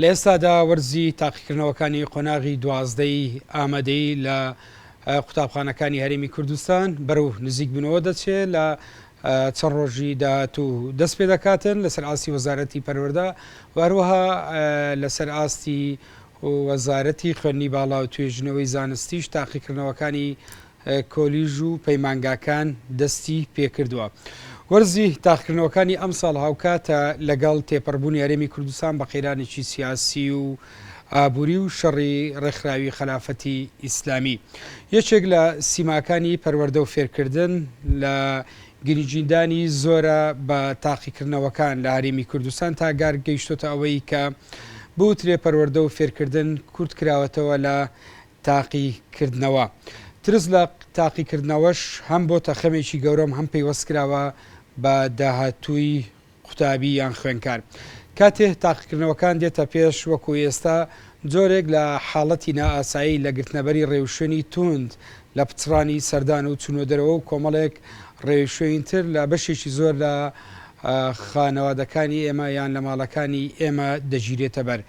لە ئێستادا وەرزی تاقیکردنەوەکانی قۆناغی دوازدەی ئامادەی لە قوتابخانەکانی هەرێمی کوردستان بەرەو نزیک بوونەوە دەچێت لە چەند ڕۆژی داهاتوو دەست پێ دەکاتن لەسەر ئاستی وەزارەتی پەروەدا واروەها لەسەر ئاستی وەزارەتی خوێندنی باڵا و توێژنەوەی زانستیش تاقیکردنەوەکانی کۆلیژ و پەیمانگاکان دەستی پێکردووە. وەرزی تاقکردنەوەکانی ئەمساڵ هاوکاتە لەگەڵ تێپەڕبوونی هەرێمی کوردستان بە قەیرانێکی سیاسی و ئابووری و شەڕی ڕێکخراوی خەلافەتی ئیسلامی. یەکێک لە سیماکانی پەروەردە و فێرکردن لە گریجیدانی زۆرە بە تاقیکردنەوەکان لە هەرێمی کوردستان تا گار گەیشتۆتە ئەوەی کە بوترێ پەروەردە و فێرکردن کورتکراوەتەوە لە تاقیکردنەوە. ترس لە تاقیکردنەوەش هەم بۆتە خەمێکی گەورە و هەم پەیوەست کراوە بە داهاتووی قوتابی یان خوێندکار. کاتێ تاقیکردنەوەکان دێتە پێش وەکو ئێستا جۆرێک لە حاڵەتی نائاسایی لە گرتنەبەری ڕێوشوێنی تووند لە پچڕانی سەردان و چوونە دەرەوە و کۆمەڵێک ڕێوشوێنی تر لە بەشێکی زۆر لە خانەوادەکانی ئێمە یان لە ماڵەکانی ئێمە دەگیرێتە بەر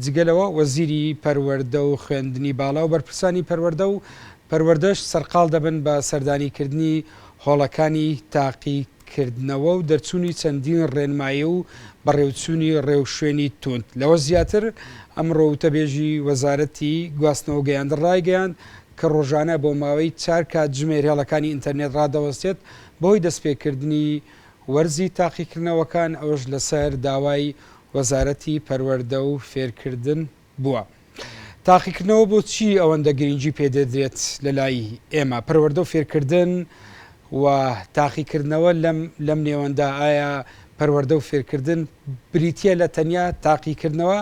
جگە لەوە وەزیری پەروەردە و خوێندنی باڵا و بەرپرسانی پەروەردە و پەروەردەش سەرقاڵ دەبن بە سەردانیکردنی هۆڵەکانی تاقیکردنەوە و دەرچوونی چەندین ڕێنمایی و بەڕێوچوونی ڕێوشوێنی تووند. لەوەش زیاتر، ئەمڕۆ وتەبێژی وەزارەتی گواستنەوە و گەیاندن ڕایگەیاند کە ڕۆژانە بۆ ماوەی چار کاتژمێر هێڵەکانی ئینتەرنێت ڕادەوەستێت بەهۆی دەستپێکردنی وەرزی تاقیکردنەوەکان، ئەوەش لەسەر داوای وەزارەتی پەروەردە و فێرکردن بووە. تاقیکردنەوە بۆچی ئەوەندە گرینگی پێدەدرێت لەلای ئێمە، پەروەردە و فێرکردن و تاقیکردنەوە لەم لەم نێوەندا ئایا پەروەردە و فێرکردن بریتییە لە تەنیا تاقیکردنەوە؟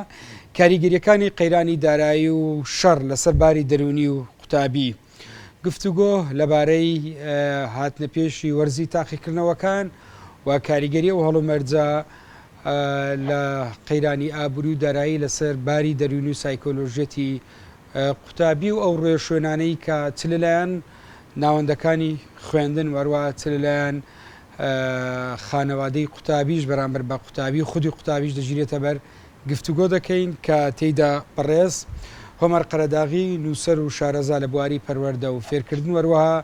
کاریگەرییەکانی قەیرانی دارایی و شەڕ لەسەر باری دەروونی و قوتابی. گفتوگۆ لەبارەی هاتنەپێشی وەرزی تاقیکردنەوەکان و کاریگەری ئەو هەڵومەرجە لە قەیرانی ئابووری و دارایی لەسەر باری دەروون و سایکۆلۆژیەتی قوتابی و ئەو ڕێ شوێنانەی کە چ لەلایەن ناوەندەکانی خوێندن وەروە چ لەلایەن خانەوادەی قوتابیش بەرامبەر بە قوتابی خودی قوتابیش دەگیرێتە بەر گفتوگۆ دەکەین کە تێیدا بەڕێز هۆمەر قەرەداغی نووسەر و شارەزا لە بواری پەروەردە و فێرکردن و هەروەها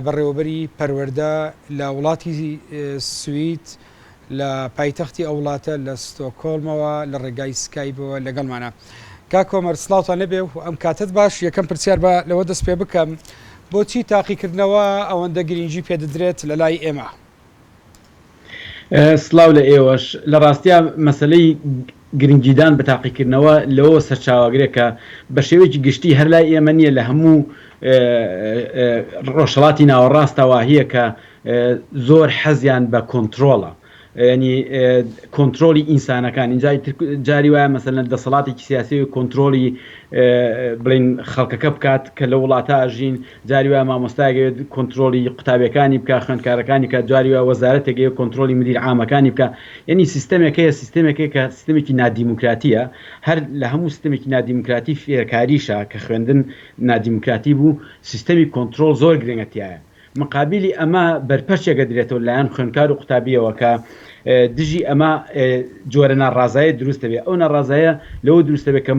بەڕێوەبەری پەروەردە لە وڵاتی سوید لە پایتەختی ئەو وڵاتە لە ستۆکۆڵمەوە لە ڕێگای سکایبەوە لەگەڵمانە کاک هۆمەر سڵاوتان لەبێ و ئەم کاتت باش یەکەم پرسیار بە لەوە دەست پێ بکەم بۆچی تاقیکردنەوە ئەوەندە گرنگی پێدەدرێت لە لای ئێمە؟ سڵاو لە ئێوەش. لە ڕاستیا مەسەلەی گرنگیدان بە تاقیکردنەوە لەوەوە سەرچاوەگرێ کە بە شێوەیەکی گشتی هەر لای ئێمە نییە لە هەموو ڕۆژهەڵاتی ناوەڕاستە واهییە کە زۆر حەزیان بە کۆنترۆڵە یانی کۆنترۆڵی ئینسانەکان ئینجا ئیتر جاری وایە مەسەلەن دەسەڵاتێکی سیاسی کۆنترۆڵی بڵێن خەڵکەکە بکات کە لە وڵاتە ئەژین جاری وایە مامۆستایەک ئەوێت کۆنترۆڵی قوتابیەکانی بکا خوێندکارەکانی بکا جاری وایە وەزارەتێک ئەوێت کۆنترۆڵی مدیر عامەکانی بکا یەنی سیستەمێک هەیە سیستەمێک هەیە کە سیستەمێکی نادیموکراتیە هەر لە هەموو سیستەمێکی نادیموکراتی فێرکاریشە کە خوێندن نادیموکراتی بوو سیستەمی کۆنترۆڵ زۆر گرنگە تیایە مقابیلی ئەمە بەرپەرچێک ئەدرێتەوە لایەن خوێندکار و قوتابیەوە کە دژی ئەمە جۆرە ناڕازایە دروست دەبێت ئەو ناڕازایە لەوە دروست دەبێت کە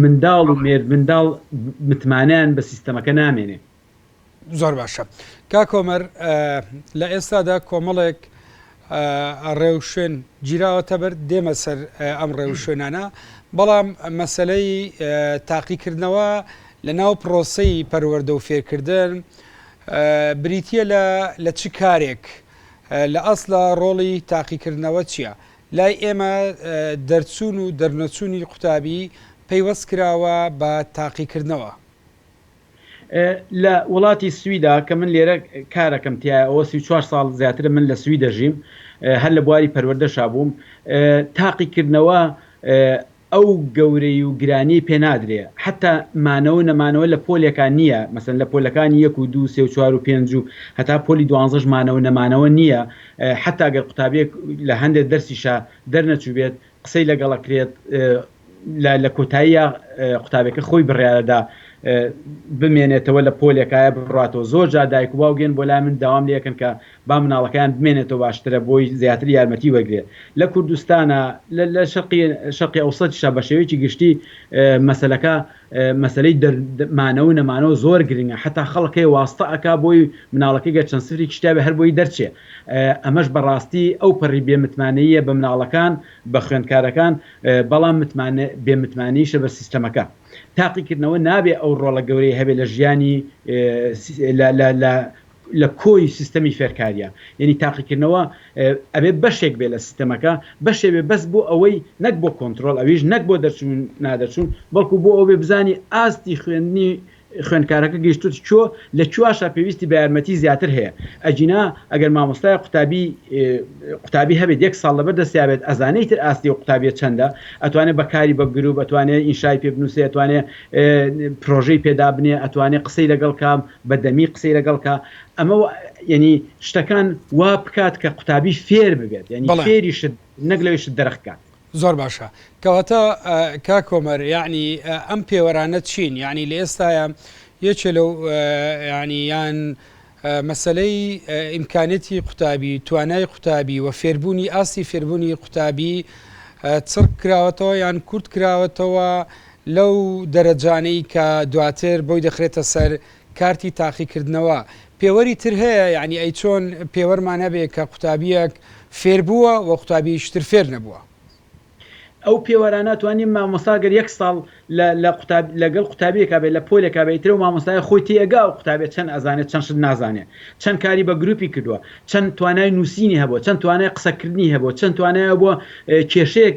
منداڵ و مێردمنداڵ متمانیان بە سیستەمەکە نامێنێ زۆر باشە کاکۆمەر لە ئێستادا کۆمەڵێک ڕێوشوێن گیراوەتە بەر دێمە سەر ئەم ڕێوشوێنانە بەڵام مەسلەی تاقیکردنەوە لە ناو پرۆسی پەروەەردە و فێرکردن بریتە لە لە چ کارێک لە ئەسڵا ڕۆڵی تاقیکردنەوە چیە؟ لای ئێمە دەرچوون و دەرنەچوونی قوتابی پەیوەست کراوە بە تاقیکردنەوە. لە وڵاتی سویدا کە من لێرە کارەکەم تیایە ئەوە سی و چوار ساڵ زیاترە من لە سوید دەژیم هەر لە بواری پەروەردەشا بووم تاقیکردنەوە ئەو گەورەی و گرانیەی پێ نادرێ حەتا مانەوەو نەمانەوە لە پۆلێکا نیە مەسەلەن لە پۆلەکانی یەک و دوو سێ و چوار و پێنج و هەتا پۆلی دوانزەش مانەوە نەمانەوە نیە حەتا گەر قوتابیەک لە هەندێ دەرسیشا دەرنەچوبێت قسەی لەگەڵ ئەکرێت لە لە کۆتاییا قوتابێکە خۆی بڕیارەدا بمێنێتەوە لە پۆلێکایە بڕاتەوە زۆر جار دایک و باوگێن بۆ لای من داوام لێ ئەکەن کە با مناڵەکەیان بمێنێتەوە باشترە بۆی زیاتر یارمەتی وەرگرێ لە کوردستانا لە لە شەرقی شەرقی ئەوسەتیشا بە شێوەیەکی گشتی مەسەلەکە مەسەلەی دەر مانەوە نەمانەوە زۆر گرنگە حەتا خەڵک هەیە واستە ئەکا بۆی مناڵەکەی گەر چەند سفرێکیش تیابێ هەر بۆی دەرچێ ئەمەش بە ڕاستی ئەو پەڕی بێ متمانەییە بە مناڵەکان بە خوێندکارەکان بەڵام متمان بێ متمانەییشە بە سیستەمەکە تاقیکردنەوە نابێ ئەو ڕۆڵە گەورەی هەبێ لە ژیانی لە لە لە لە کۆی سیستەمی فێرکاریە یەنی تاقیکردنەوە ئەبێ بەشێک بێ لە سیستەمەکە بەشێ بێ بەس بۆ ئەوەی نەک بۆ کۆنترۆڵ ئەویش نەک بۆ دەرچوون نادەرچوون بەڵکو بۆ ئەوەبێ بزانی ئاستی خوێندنی خوێندکارەکە گەیشتووت کۆ لە کواشا پێویستی بە یارمەتی زیاتر هەیە ئەگینا ئەگەر مامۆستای قوتابی قوتابی هەبێت یەک ساڵ لەبەر دەستیابێت ئەزانەی تر ئاستی و قوتابیە چەندە ئەتوانێت بەکاری بە گروپ ئەتوانێت ئینشای پێ بنووسێ ئەتوانێت پرۆژەی پێدابنێ ئەتوانێت قسەی لەگەڵ کام بە دەمی قسەی لەگەڵ کە ئەمە یعنی شتەکان وا بکات کە قوتابی فێر ببێت یعنی فێری شت نەک لەوی شت دەرخکات زۆر باشە کەواتە کا کۆمەر یعنی ئەم پێوەرانە چین یعنی لە ئێستاە یەکێ لەو ینی یان مەسلەی ئیمکانێتی قوتابی توانای قوتابی و فێربوونی ئاستی فێربوونی قوتابی چڕ کراوەتەوە یان کورت کراوەتەوە لەو دەرەجانەی کە دواتر بۆی دەخرێتە سەر کارتی تاقیکردنەوە. پێوەری تر هەیە؟ یانی ئەی چۆن پێوەرمان هەبێ کە قوتابییەک فێربووە و قوتابییەیش تر فێر نەبووە؟ ئەو پێوەرانە توانیم مامۆستا گەر یەک ساڵ لە لە قوتاب لەگەڵ قوتابییەکا بێ لە پۆلێکا بێ ئیتر ئەو مامۆستایە خۆی تێئەگا ئەو قوتابییە چەند ئەزانێ چەند شت نازانێ چەند کاری بە گرووپی کردووە چەند توانای نووسینی هەبووە، چەند توانای قسەکردنی هەبووە، چەند توانای هەبووە کێشەیەک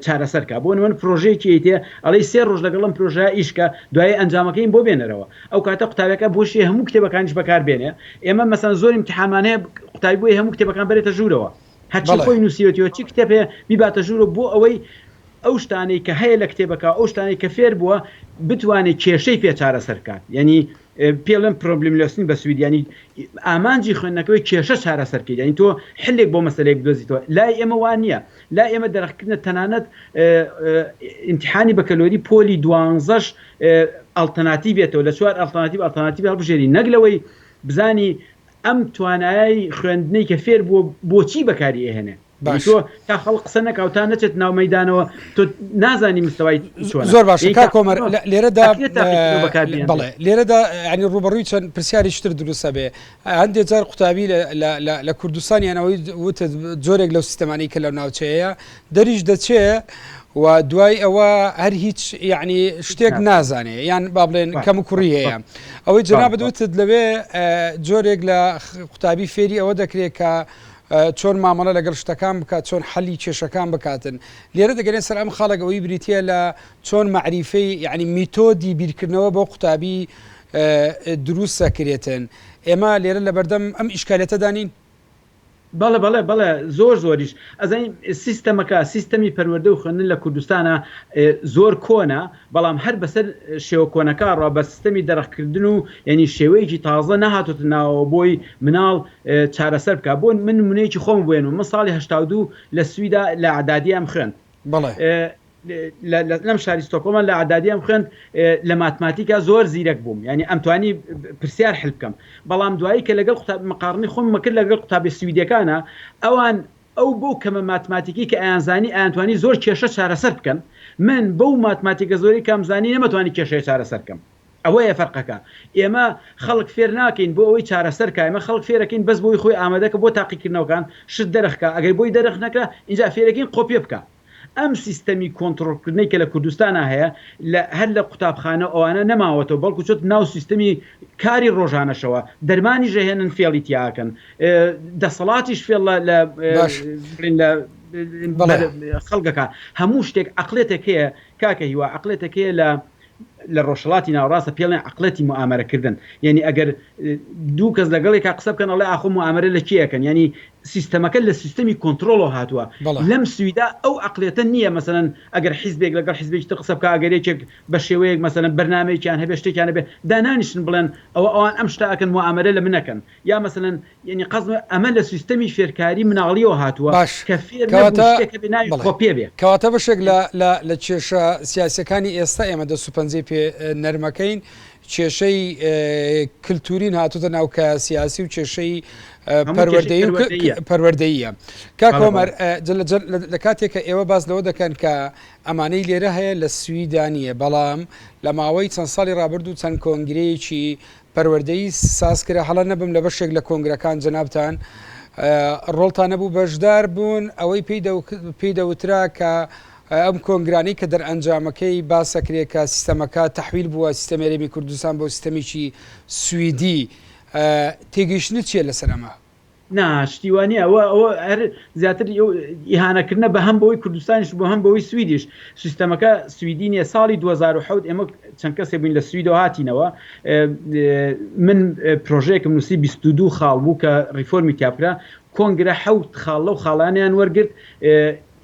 چارەسەر کات، بۆ نموونە پرۆژەیەکی ئەیتێ ئەڵێی سێ ڕۆژ لەگەڵ ئەم پرۆژەیە ئیش کە، دوایی ئەنجامەکەیم بۆ بێنەرەوە، ئەو کاتە قوتابیەکە بۆ شێ هەموو کتێبەکانیش بەکار بێنێ، ئێمە مەسەن زۆر ئیمتیحانمان هەیە قوتابی بۆیە هەموو کتێبەکان بەرێتە ژوورەوە، هەرچی خۆی نووسیوەتیوە چی کتێب هەیە بیباتە ژوورەوە بۆ ئەوەی ئەو شتانەی کە هەیە لە کتێبەکە ئەو شتانەی کە فێر بووە بتوانێ کێشەی پێ چارەسەر کات یانی پێ ڵێم پرۆبلملۆسنی بە سوید یانی ئامانجی خوێندنەکەوەی کێشە چارەسەر کەیت یانی تۆ حلێک بۆ مەسەلەیەک بدۆزیتەوە لای ئێمە وا نییە لای ئێمە دەرخکردنە تەنانەت ئیمتیحانی بەکەلۆری پۆلی دوانزەش ئەڵتەناتیڤێتەوە لە چوار ئەڵتەناتیڤ ئەڵتەناتیڤ هەڵبژێری نەک لەوەی بزانی ئەم توانایەی خوێندنەی کە فێر بووە بۆچی بەکاری ئەهێنێ باش تا خەڵ قسە نەکاو تا نەچێت ناو مەدانەوە تۆ نازانی مستەوای زۆر باش کا کۆمەر لێرەدا بڵێ لێرەدا ینی ڕوبەڕووی چەند پرسیاری شتر دروستە بێ هەندێک جار قوتابی لە کوردستانیانەوەی وت جۆرێک لەو سیستەمانی کە لە ناوچەیە دەریش دەچێ و دوای ئەوە هەر هیچ یعنی شتێک نازانێ یان با بڵێن کەم کوڕی هەیە ئەوەی جنا بدوتت لەوێ جۆرێک لە قوتابی فێری ئەوە دەکرێت کە چۆن مامەڵە لەگەڵ شتەکان بکات، چۆن حەلی کێشەکان بکاتن. لێرە دەگەرێ سەر ئەم خاڵەک ئەوەی بریتیە لە چۆن مەعریفەی یەعنی میتۆدی بیرکردنەوە بۆ قوتابی دروست دەکرێتن. ئێمە لێرە لەبەردەم ئەم ئیشکالیەتەدا نین؟ بەڵێ بەڵێ بەڵێ زۆر زۆریش. ئەزانین سیستەمەکە، سیستەمی پەروەردە و خوێندن لە کوردستانا زۆر کۆنە بەڵام هەر بەسەر شێوە کۆنەکە ڕا بە سیستەمی دەرەخکردن و یانی شێوەیەکی تازە نەهاتۆتە ناوەوە بۆی مناڵ چارەسەر بکا بۆ من نمونەیەکی خۆم بێنم من ساڵی هەشتا و دوو لە سویدا لە عدادیەم خوێند بەڵێ لە لەم شاری ستۆکۆڵمە لە عدادیەم خوێند لە ماتماتیکا زۆر زیرەک بووم یانی ئەم توانی پرسیار حل بکەم بەڵام دوایی کە لەگەڵ قوتابی مقاڕنی خۆم مەکرد لەگەڵ قوتابی سویدەکانا ئەوان ئەو بەو کەمە ماتماتیکەی کە ئەیانزانی ئەیانتوانی زۆر کێشە چارەسەر بکەن، من بەو ماتماتیکە زۆرەی کامزانی نەمەتوانی کێشەیە چارەسەر بکەم. ئەوەیە فەرقەکە. ئێمە خەڵک فێر ناکەین بۆ ئەوەی چارەسەر کا، ئێمە خەڵک فێرەکەین بەس بۆی خۆی ئامادەکە بۆ تاقیکردنەوەکان، شت دەرخکا، ئەگەر بۆی دەرخ نەکرا ئینجا فێرەکەین قۆپێ بکا. ئەم سیستەمی کۆنتڕۆڵکردنەی کە لە کوردستانا هەیە لە هەر لە قوتابخانە و ئەوانە نەماوەتەوە بەڵکو چۆتە ناو سیستەمی کاری ڕۆژانەشەوە دەرمانیش ئەهێنن فێڵی تیا ئەکەن دەسەڵاتیش فێڵ لە باش بڵێن لە بەڵێ. بەر خەڵکەکە هەموو شتێک عەقلێتێک هەیە کاکە هیوا عەقلێتێک هەیە لە لە ڕۆژهەڵاتی ناوەڕاستە پێڵێن عەقڵێتی موئامەرە کردن یانی ئەگەر دوو کەس لەگەڵ یەکا قسە بکەن ئەڵێ ئاخۆ موئامەرە لە کێ ئەکەن یانی سیستەمەکە لە سیستەمی کۆنتڕۆڵەوە هاتووە لەم سویدا ئەو عەقڵێتە نییە مەسەلەن ئەگەر حیزبێک لەگەڵ حیزبێکی تر قسە بکا ئەگەر یەکێک بە شێوەیەک مەسەلەن بەرنامەیەکیان هەبێ شتێکیان هەبێ دانانیشن بڵێن ئەوە ئەوان ئەم شتە ئەکەن موئامەرە لە من ئەکەن یا مەسەلەن یەنی قەزم ئەمە لە سیستەمی فێرکاری مناڵیەوە هاتووە باش کە فێر نەبوو کەواتە شتێک هەبێ ناوی بەڵێ خۆ پێ بێ. کەواتە بەشێک لە لە لە کێشە سیاسیەکانی ئێستا ئێمە دەست و پەنجەی پێ نەرمەکەین کێشەی ە کلتورین هاتۆتە ناو کایە سیاسی و کێشەی ە هەموو کێشەی پەروەردەی و ک ک پەروەردەییە پەروەردەییە کاک بەڵێ بەڵێ هۆمەر ە جە لە جە لە کاتێک کە ئێوە باس لەوە دەکەن کە ئەمانەی لێرە هەیە لە سویدا نیە بەڵام لە ماوەی چەند ساڵی ڕابردوو چەند کۆنگرەیەکی پەروەردەیی ساز کرا هەڵە نەبم لە بەشێک لە کۆنگرەکان جەنابتان ڕۆڵتان نەبوو بەشدار بوون ئەوەی پێی دەوترا کە ئەم کۆنگرانی کە دەرئەنجامەکەی باسەکرێ کە سیستەمەکە تحویل بووە سیستەمی هەرێمی کوردستان بۆ سیستەمێکی سویدی تێگەیشتنت چیە لەسەر ئەمە؟ نا شتی وا نیە ئەوە ئەوە هەر زیاتر ئەو ئیهانە کردنە بە هەم بەوەی کوردستانیش بۆ هەم بەوەی سویدیش سیستەمەکە سویدی نیە ساڵی دوو هەزار و حەوت ئێمە چەند کەسێ بووین لە سویدەوە هاتینەوە من پرۆژەیەکم نووسی بیست و دوو خاڵ بوو کە ڕیفۆرمی تیا بکرا کۆنگرە حەوت خاڵ لەو خاڵانیان وەرگرت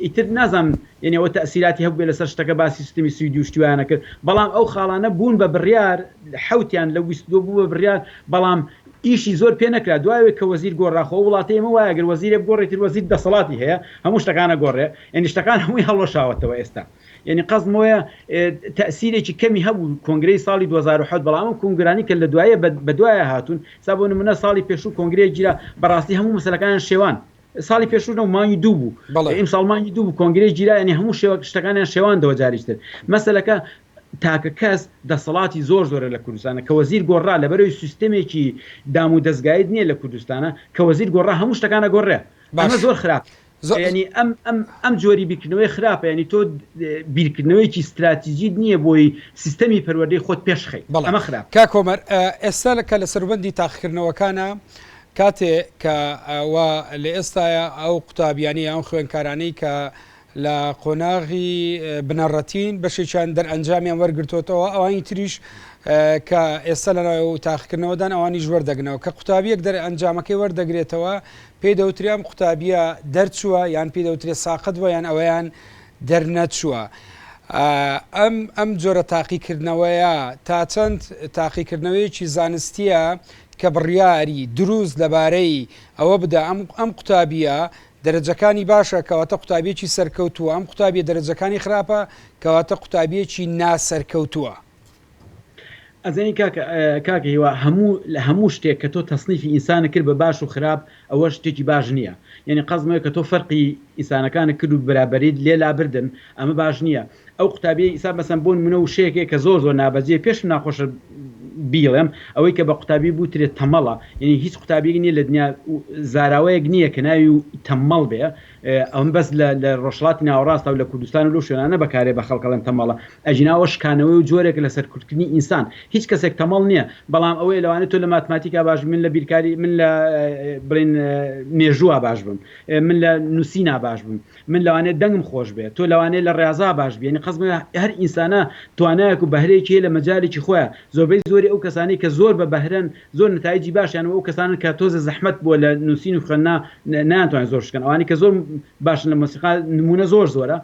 ئیتر نازانم یەنی ئەوە تەئسیراتی هەبوبێ لەسەر شتەکە باسی سوتەمی سویدی و شتی وایانە کرد بەڵام ئەو خاڵانە بوون بە بریار حەوتیان لەو بیست و دوو بوو بە بریار بەڵام ئیشی زۆر پێ نەکرا دوای ئەوەی کە وەزیر گۆڕا خۆ ئەو وڵاتە ئێمە وایە گەر وەزیرێ بگۆڕێ ئیتر وەزیر دەسەڵاتی هەیە هەموو شتەکان ئەگۆڕێ یەنی شتەکان هەمووی هەڵوەشاوەتەوە ئێستا یەنی قەزم ئەوەیە تەئسیرێکی کەمی هەبوو کۆنگرەی ساڵی دوو هەزار و حەوت بەڵام ئەم کۆنگرانی کە لە دوایێ بە دوایە هاتوون ئێستا بۆ نمونە ساڵی پێشوو کۆنگرەیەک گیرا بەڕاستی هەموو مەسەلەکانیان شێوان ساڵی پێشوو نەبوو مانگی دوو بوو بەڵێ ئیمساڵ مانگی دوو بوو کۆنگرەی گیرا یانی هەموو شێوە شتەکانیان شێواندەوە جاریش تر مەسەلەکە تاکە کەس دەسەڵاتی زۆر زۆرە لە کوردستانە کە وەزیر گۆڕا لەبەرەوەی سیستەمێکی دام و دەزگایت نییە لە کوردستانە کە وەزیر گۆڕا هەموو شتەکان ئەگۆڕێ ئەمە باش زۆر خراپ زۆ یانی ئەم ئەم ئەم جۆری بیرکردنەوەی خراپە یانی تۆ بیرکردنەوەیەکی ستراتیجیت نییە بۆی سیستەمی پەروەردەی خۆت پێشخەی بەڵێ ئەمە خراپە. کاک هۆمەر ئێستا لە کە لە سەروبەندی تاقیکردنەوەکانە کاتێ کە وا لە ئێستایە ئەو قوتابیانەی یان ئەو خوێندکارانەی کە لە قۆناغی بنەڕەتین بەشێکیان دەرئەنجامیان وەرگرتوتەوە ئەوانی تریش کە ئێستا لە ناو تاقیکردنەوەدان ئەوانیش وەردەگنەوە کە قوتابیەک دەرئەنجامەکەی وەردەگرێتەوە پێی دەوتریان قوتابیە دەرچووە یان پێی دەوترێت ساقت بووە یان ئەویان دەرنەچووە. ئەم ئەم جۆرە تاقیکردنەوەیە تا چەند تاقیکردنەوەیەکی زانستیە کە بڕیاری دروست لەبارەی ئەوە بدا ئەم ئەم قوتابیە دەرەجەکانی باشە کەواتە قوتابیەکی سەرکەوتووە ئەم قوتابیە دەرەجەکانی خراپە کەواتە قوتابیەکی نا سەرکەوتووە. ئەزانی کاک کاک هیوا هەموو لە هەموو شتێک کە تۆ تەسنیفی ئینسانت کرد بە باش و خراپ ئەوە شتێکی باش نییە یانی قەزم ئەوەیە کە تۆ فەرقی ئینسانەکانت کرد و بەرابەریت لێ لابردن ئەمە باش نییە ئەو قوتابیەی ئیستا مەسەن بۆ نمونە وشەیەکەیە کە زۆر زۆر نابەجێیە پێشم ناخۆشە بیڵێم ئەوەی کە بە قوتابی بوترێت تەمەڵە یعنی هیچ قوتابیەک نیە لە دنیا زاراوەیەک نیە کە ناوی و تەمەڵ بێ ئەم بەس لە لە ڕۆژهەڵاتی ناوەڕاستە و لە کوردستان و لەو شوێنانە بەکارێ بە خەڵک ئەڵێن تەمەڵە ئەگینا ئەوە شکانەوەی و جۆرێکە لە سەرکوتکردنی ئینسان هیچ کەسێک تەمەڵ نیە بەڵام ئەوەیە لەوانەیە تۆ لە ماتماتیکا باش بی من لە بیرکاری من لە بڵێن مێژووا باش بم من لە نووسینا باش بم من لەوانەیە دەنگم خۆش بێ تۆ لەوانەیە لە ڕێازا باش بی یەنی قەسدم ئەوەیە هەر ئینسانە توانایەک و بەهرەیەکی هەیە لە مەجالێکی خۆیا زۆربەی زۆری ئەو کەسانەی کە زۆر بە بەهرەن زۆر نەتایجی باشیان و ئەو کەسانەن کە تۆزێ زەحمەت بووە لە نوسین و خوێندنا نەیان توانی زۆر شتکەن ئەوانەی کە زۆر باشن لە مۆسیقا نمونە زۆر زۆرە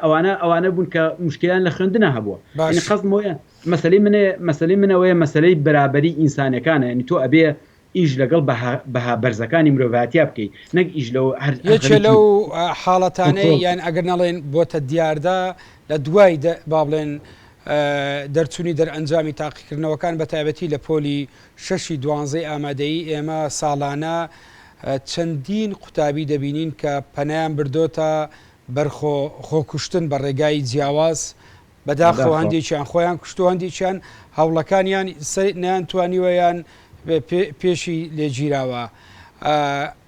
ئەوانە ئەوانە بوون کە موشکیلیان لە خوێندنا هەبووە یەنی باشە. قەسدم ئەوەیە مەسەلەی من مەسەلەی من ئەوەیە مەسەلەی بەرابەری ئینسانەکانە یەنی تۆ ئەبێ ئیش لەگەڵ بەها بەرزەکانی مرۆڤاتیا بکەی نەک ئیش لەو یەکێ لەو حاڵەتانەی یان ئەگەر نەڵێن بۆتە دیاردە لە دوای با بڵێن دەرچوونی دەرئەنجامی تاقیکردنەوەکان بە تایبەتی لە پۆلی شەشی دوانزەی ئامادەی ئێمە ساڵانە چەندین قوتابی دەبینین کە پەنیان بردۆتە بەرخۆ خۆکوشتن بە ڕێگای جیاواز بەداخەوە هەندێکیان خۆیان کوشتوە هەندێکیان هەوڵەکانیان نەیان توانیوە یان پێشی لێگیراوە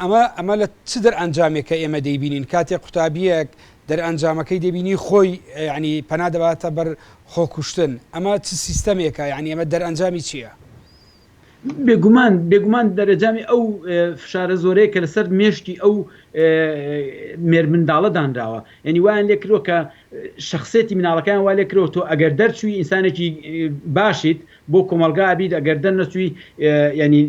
ئەمە ئەمە لە چ دەرئەنجامێکە ئێمە دەیبینین کاتێک قوتابیەک دەرئەنجامەکەی دەبینی خۆی ینی پەنا دەباتە بەر خۆکوشتن ئەمە چ سیستەمێکە یعنی ئەمە دەرئەنجامی چییە؟ بێگومان بێگومان دەرەجامی ئەو فشارە زۆرەیە کە لەسەر مێشکی ئەو مێرمنداڵە دانراوە یعنی وایان لێ کردوە کە شخصێتی مناڵەکەیان وا لێ کردەوە تۆ ئەگەر دەرچووی ئینسانێکی باشیت بۆ کۆمەڵگا ئەبیت ئەگەر دەرنەچووی یعنی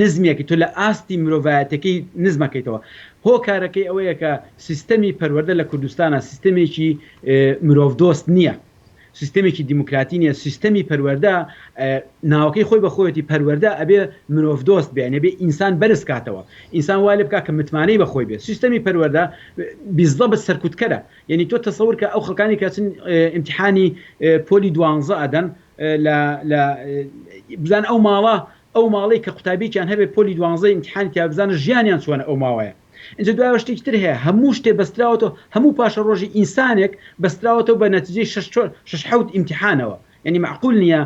نزمێکی تۆ لە ئاستی مرۆڤایەتەکەی نزمەکەیتەوە هۆکارەکەی ئەوەیە کە سیستەمی پەروەردە لە کوردستانە سیستەمێکی مرۆڤ دۆست نییە سیستەمێکی دیموکراتی نیە سیستەمی پەروەردە ناوەکەی خۆی بە خۆیەتی پەروەردە ئەبێ مرۆڤ دۆست بێ ئەبێ ئینسان بەرز کاتەوە ئینسان وا لێ بکا کە متمانەی بە خۆی بێ سیستەمی پەروەردە بیزەبت سەرکوتکەرە یەنی تۆ تەسەور کە ئەو خەڵکانی کە چن ئیمتیحانی پۆلی دوانزە ئەدەن لە لە بزان ئەو ماڵە ئەو ماڵەی کە قوتابیەکیان هەبێ پۆلی دوانزە ئیمتیحانی تیا بزانە ژیانیان چۆنە ئەو ماوەیە ئینجا دوایەوە شتێکی تر هەیە هەموو شتێ بەستراوەتەوە هەموو پاشەڕۆژی ئینسانێک بەستراوەتەوە بە نەتیجەی شەش چۆ شەش حەوت ئیمتیحانەوە یانی مەعقول نیە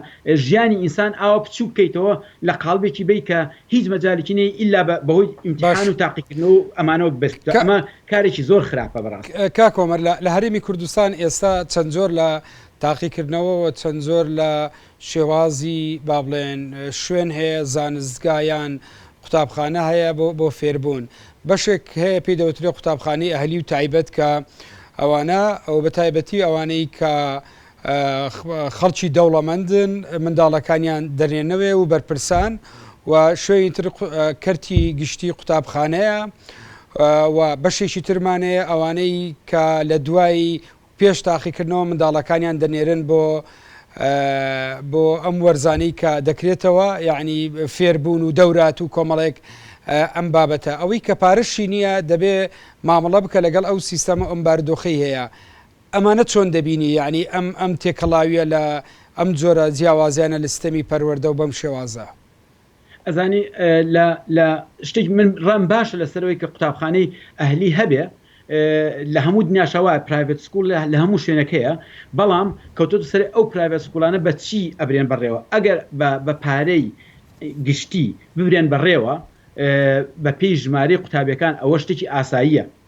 ژیانی ئینسان ئاوا بچووک کەیتەوە لە قاڵبێکی بەی کە هیچ مەجالێکی نەی ئیلا بە بەهۆی ئیمتیحان باش و تاقیکردنەوە و ئەمانەوە بەست کا ئەمە کارێکی زۆر خراپە بەڕاست کاک عمر لە لە هەرێمی کوردستان ئێستا چەند جۆر لە تاقیکردنەوەوە چەند جۆر لە شێوازی با بڵێن شوێن هەیە زانستگا یان قوتابخانە هەیە بۆ بۆ فێربوون بەشێک هەیە پێی دەوترێ قوتابخانەی ئەهلی و تایبەت کە ئەوانە ئەو بە تایبەتی ئەوانەی کە خەڵکی دەوڵەمەندن منداڵەکانیان دەرێنەوێ و بەرپرسان و شوێنی تر کەرتی گشتی قوتابخانەیە و بەشێکی ترمانەیە ئەوانەی کە لە دوایی پێش تاقیکردنەوە منداڵەکانیان دەنێرن بۆ بۆ ئەم وەرزانەی کە دەکرێتەوە یعنی فێربوون و دەورات و کۆمەڵێک ئەم بابەتە ئەوەی کە پارشی نییە دەبێ مامەڵە بکە لەگەڵ ئەو سیستەمە ئەم باردۆخی هەیە ئەمانە چۆن دەبینی یعنی ئەم ئەم تێکەڵاویە لە ئەم جۆرە جیاوازیانە لە سیستەمی پەروەردە و بەم شێوازە. ئەزانی لە لە شتێک من ڕام باشە لەسەرەوەی کە قوتابخانەی ئەهلی هەبێ لە هەموو دنیاشەوە پرایڤێت سکول لە هەموو شوێنەکەیە بەڵام کەوتۆتە سەر ئەو پرایڤێت سکولانە بە چی ئەبرێن بەڕێوە ئەگەر بە پارەی گشتی ببرێن بەڕێوە بە پێی ژمارەی قوتابیەکان ئەوە شتێکی ئاساییە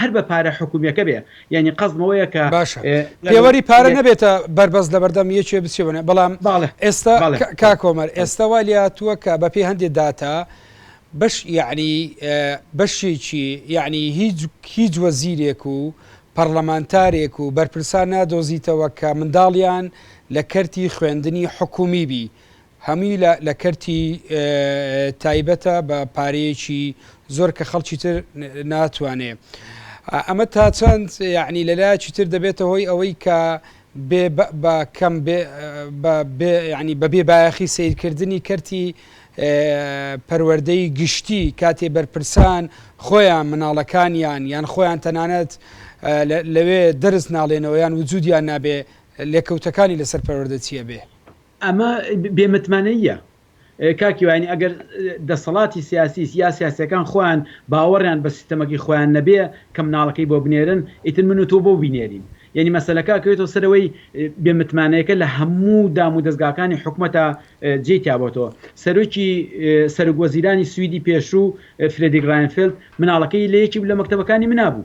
هەر بە پارە حکومیەکە بێ یانی قەزم ئەوەیە کە باشە پێوەری پارە نەبێتە بەربەست لەبەردەم یەکێ بچێونە بەڵام ئێستا کاک کۆمەر ئێستا وا لاتووە کە بە پێ هەندێک داتا بەش یعنی بەشێکی یعنی هیچ هیچ وەزیرێک و پەرلەمانتارێک و بەرپرسان نادۆزیتەوە کە منداڵیان لە کەرتی خوێندنی حکومی بی هەمووی لە کەرتی تایبەتە بە پارەیەکی زۆر کە خەڵکی تر ناتوانێ ئەمە تا چەند یعنی لە لایەکی تر دەبێتە هۆی ئەوەی کە بە کەم ینی بە بێ بایەخی سیرکردنی کەرتی پەروەردەی گشتی کاتێ بەرپرسان خۆیان مناڵەکانیان یان خۆیان تەنانەت لەوێ دەرس ناڵێنەوەیان وجودیان نابێ لێکەوتەکانی لەسەر پەروەردە چیە بێ ئەمە بێ متمانەییە کاک کیوانی، ئەگەر دەسەڵاتی سیاسی یا سیاسیەکان خۆیان باوەڕیان بە سیستەمەکەی خۆیان نەبێ کە مناڵەکەی بۆ بنێرن ئیتر من و تۆ بۆ بینێرین؟ یەنی مەسەلەکە ئەکەوێتەوە سەر ئەوەی بێ متمانەیەکە لە هەموو دام و دەزگاکانی حکومەتا جێی تیا بۆتەوە. سەرۆکی سەرک وەزیرانی سویدی پێشوو فرێدیک ڕاینفێلد مناڵەکەی لە یەکیک لە مەکتەبەکانی منا بوو.